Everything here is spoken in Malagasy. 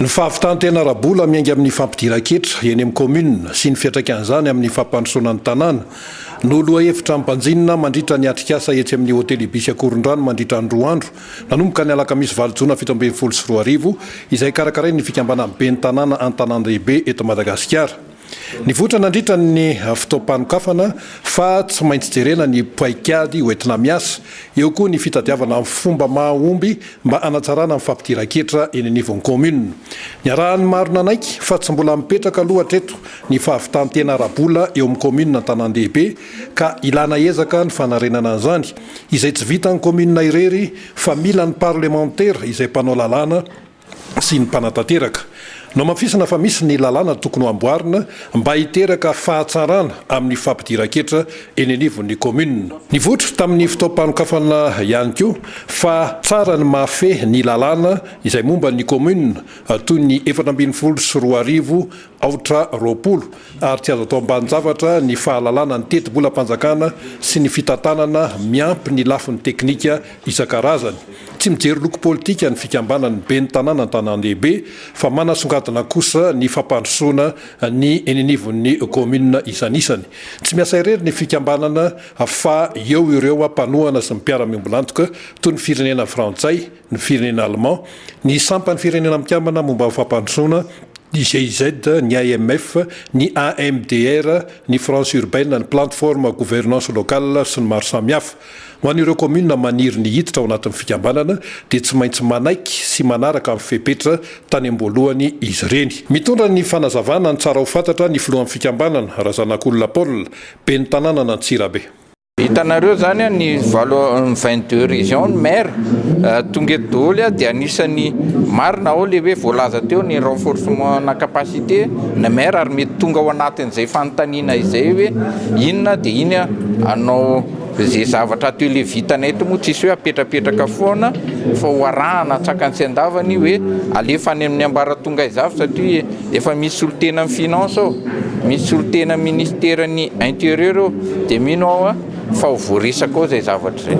Ny fahavitan-tena ara-bola miainga amin'ny fampidiran-ketra eny amin'ny kaominina sy ny fiantraikan'izany amin'ny fampandrosoana ny tanàna no lohahevitra ampanjinina mandritra ny atrikasa etsy amin'ny Hotely Ibis Akorondrano mandritra ny roa andro nanomboka ny alakamisy valo jona fito ambin'ny folo sy roa arivo izay karakarain'ny fikambanan'ny ben'ny tanàna an-tanàn-dehibe eto Madagasikara. Nivoitra nandritra ny fotoam-panokafana fa tsy maintsy jerena ny paikady hoentina miasa. Eo koa ny fitadiavana amin'ny fomba mahomby mba hanatsarana ny fampidiran-ketra eny anivon'ny kaominina. Niarahan'ny maro nanaiky fa tsy mbola mipetraka aloha hatreto ny fahavitan-tena ara-bola eo amin'ny kaominina an-tanàn-dehibe ka ilana ezaka ny fanarenana an'izany izay tsy vitan'ny kaominina irery fa mila ny parlemantera izay mpanao lalàna sy ny mpanatanteraka. Nohamafisina fa misy ny lalàna tokony ho amboarina mba hiteraka fahatsarana amin'ny fampidiran-ketra eny anivon'ny kaominina. Nivoitra tamin'ny fotoam-panokafana ihany koa fa tsara ny mahafehy ny lalàna izay momba ny kaominina toy ny efatra ambin'ny folo sy roa arivo Aotra roapolo, ary tsy azo atao ambanin-javatra ny fahalalana ny teti-bolam-panjakana sy ny fitantanana miampy ny lafiny teknika isan-karazany. Tsy mijery loko politika ny fikambanan'ny ben'ny tanàna an-tanàn-dehibe fa manasongadina kosa ny fampandrosoana ny eny anivon'ny kaominina isanisany. Tsy miasa irery ny fikambanana fa eo ireo mpanohana sy mpiara-miombon'antoka toy ny firenena frantsay, ny firenena Allemand, ny sampan'ny Firenena Mikambana momba ny Fampandrosoana, ny GIZ, ny IMF, ny AMDR, ny France Urbaine, ny Plateforme Gouvernance Locale sy ny maro samihafa. Ho an'ireo kaominina maniry ny hiditra ao anatin'ny fikambanana dia tsy maintsy manaiky sy manaraka ny fepetra tany am-boalohany izy ireny. Mitondra ny fanazavana ny tsara ho fantatra ny filohan'ny fikambanana, Razanakolona Paul, ben'ny tanànan'Antsirabe. Hitanareo izany ny valo ny vingt deux régions ny maire tonga eto daholo dia anisan'ny marina ao le hoe voalaza teo ny renforcement na capacité na maire ary mety tonga ao anatin'izay fanontaniana izay hoe inona dia iny anao izay zavatra ateo le vitanay eto moa tsisy hoe apetrapetraka foana fa ho arahana tsaka ny tsy andavany hoe alefa any amin'ny ambaratonga izavy satria Efa misy solotenan'ny finance ao, misy solotenan'ny ministeran'ny interieur ao, dia mino aho fa ho voaresaka ao izay zavatra izay.